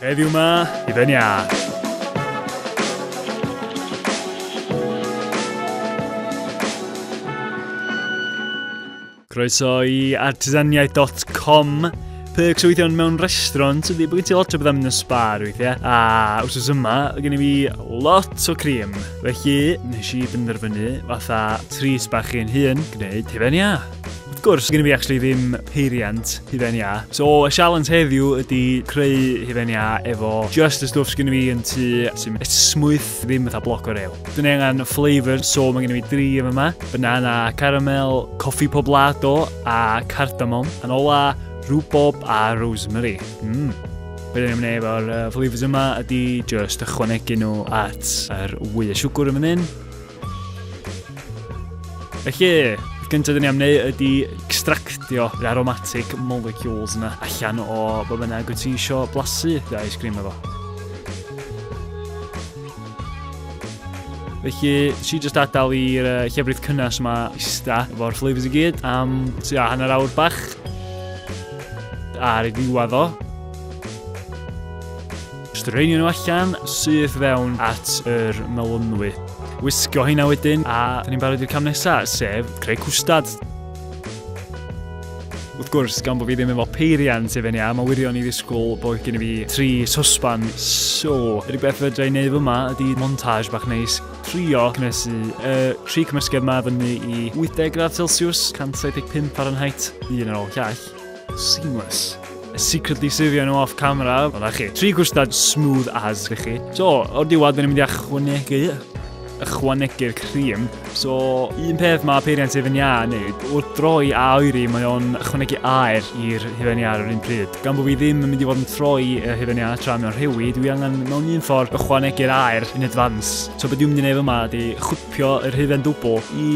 Heddiw ma, i fe'n iâ. Croeso i artisaniaeth.com Perks o weithio mewn restaurant ydy bod gen ti lot o bethau mynd yn sbar weithiau. A wrth yma, gen i fi lot o cream. Felly, nes i benderfynu fatha tris bach i'n hun gwneud hefyd ia. Wrth gwrs, gen i fi actually ddim peiriant hufen iâ. So, y sialens heddiw ydy creu hufen iâ efo just y stwff sgyn i fi yn tu sy'n smwyth ddim fatha bloc o rew. Dwi'n angen flavour, so mae gen i fi dri yma yma. Banana caramel, coffi poblado a cardamom. Yn ola, rhubob a rosemary. Mm. Be dyn ni'n mynd efo'r uh, flavours yma ydy just ychwanegu nhw at yr wy y siwgr yn fan hyn. Felly, y gyntaf dyn ni am wneud ydy extractio yr aromatic molecules yna allan o bod bynnag wyt ti eisiau blasu dy ice cream efo. Felly, si jyst adael i'r uh, llefrith cynnes yma ista efo'r flavours i gyd am tua hanner awr bach ar ei ddiwedd o. Straenio nhw allan, syth fewn at yr melynwy. Wisgo hynna wedyn, a dyn ni'n barod i'r cam nesaf, sef creu cwstad. Wrth gwrs, gan bod fi ddim efo peiriant i fyny a mae wirion i ddisgwyl bod gen i fi tri sosban. So, yr beth fydra i'n neud fyma ydy montage bach neis. Trio cynnesu y tri cymysgedd yma fyny i 80 gradd Celsius, 175 Fahrenheit, un ar ôl llall. Seamless. Secretly sifio nhw off camera, ond a chi. Tri gwstad smooth as i chi. So, o'r diwad, dyn ni'n mynd i achwanegu ychwanegu'r cream. So, un peth mae peiriant Hufen Iâ yn neud, wrth droi a oeri, mae o'n ychwanegu aer i'r Hufen Iâ ar yr un pryd. Gan bod fi ddim yn mynd i fod yn troi y Hufen Iâ tra mewn rhewi, dwi angen mewn un ffordd ychwanegu'r aer yn advance. So, beth dwi'n mynd i wneud yma ydy chwtio Pio yr hufen dwbl i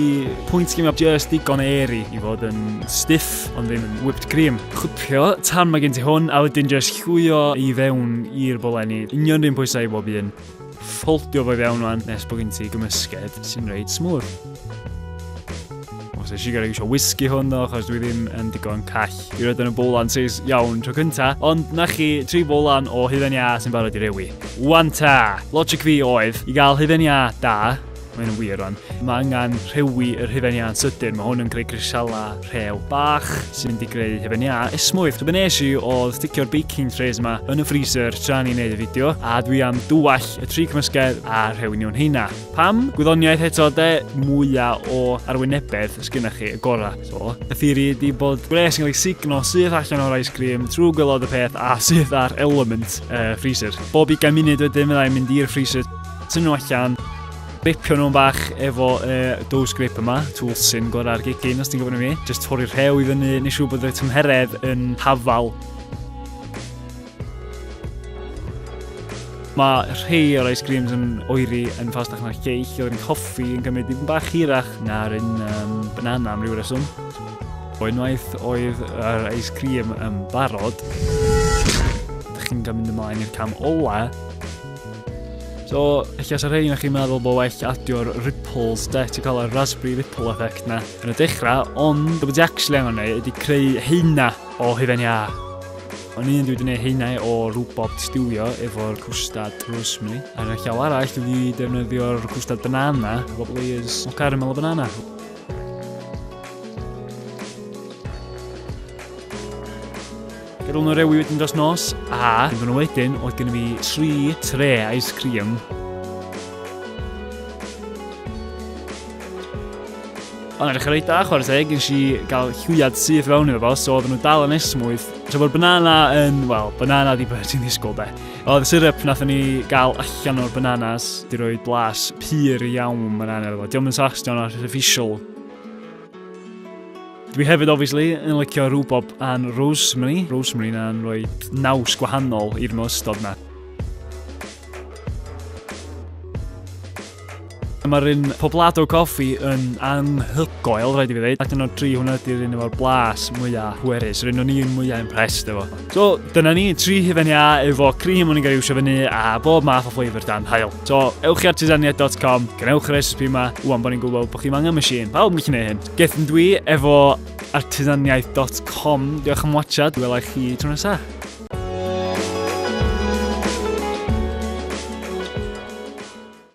pwynt lle mae just digon o eri i fod yn stiff ond ddim yn whipped cream. Chwpio tan mae gen ti hwn a wedyn just llwio i fewn i'r bolenni. Union rhywun pwysau i bob un. Ffoldio fo i fewn rwan nes bod gen ti gymysged sy'n reit smwth. Os eisiau gael eisiau whisky hwn ddo, achos dwi ddim yn digon call i roed yn y bowlan seis iawn tro cynta, ond na chi tri bowlan o hufen ia sy'n barod i rewi. Wan ta! Logic fi oedd, i gael hufen ia da, mae'n yn wir o'n, mae angen rhewi yr hufen ia'n sydyn, mae hwn yn creu grisala rhew bach sy'n di greu hufen ia esmwyth. Rhywbeth nes i oedd sticio'r baking trays yma yn y freezer tra ni'n neud y fideo, a dwi am dwall y tri cymysgedd a rhewi nhw'n heina. Pam? Gwyddoniaeth eto de, mwya o arwynebedd sgynna chi, y gora. So, y theori ydi bod gwres yn cael ei signo syth allan o'r ice cream trwy gwylod y peth a syth ar element uh, freezer. Bob i gael munud wedyn fyddai'n mynd i'r freezer, tynnu nhw allan, ripio nhw'n bach efo uh, dough scrape yma, tŵl sy'n gorau'r gigyn os ti'n gwybod nhw mi. Just torri'r rhew i fyny, nes siw bod y tymheredd yn hafal Mae rhai o'r ice creams yn oeri yn ffastach na'r ceill, oedd yn coffi yn cymryd dipyn bach hirach na'r un um, banana am ryw reswm. O unwaith oedd yr ice cream yn barod, ydych chi'n cael mynd ymlaen i'r cam ola. So, eich as ar hyn, chi'n meddwl bod well adio'r ripples, de, ti'n cael yr raspberry ripple effect na. Yn y dechrau, ond, dwi'n bod ti actually angen ei, ydy creu heina o hufen iâ. O'n un dwi wedi gwneud heinau o rwbot stiwio efo'r cwstad rosemary. Ar y llaw arall dwi wedi defnyddio'r cwstad banana efo layers o caramel o banana. Gyrwyl nhw rewi wedyn dros nos a yn nhw wedyn oedd gen i fi tri tre ice cream Ond edrych yn reit da, chwarae teg, nes i gael llwyad syth fewn iddo fo, so oedden nhw dal yn esmwyth. So mae'r banana yn, wel, banana di beth ti'n ddisgwyl de. Oedd y syrup nath ni gael allan o'r bananas, di roi blas pur iawn banana efo. Diolch yn sachs, diolch yn artificial. Dwi hefyd, obviously, yn licio rhywbob a'n rosemary. Rosemary na'n rhoi naws gwahanol i'r ystod na. Mae'r un Poblado Coffi yn anghygoel, rhaid i fi ddeud. Ac yno tri hwnna ydy'r un efo'r blas mwyaf hwerus, yr un o'n i'n mwyaf impressed efo. So, dyna ni, tri hufen ia efo cream o'n i'n gael iwsio fyny a bob math o flavour dan hael. So, ewch i artisania.com, gwnewch yr recipe yma, wwan bod ni'n gwybod bod chi'n angen machine, pawb yn gallu gwneud hyn. Gethon dwi efo artisaniaeth.com, diolch am watchad, welai chi tro nesaf.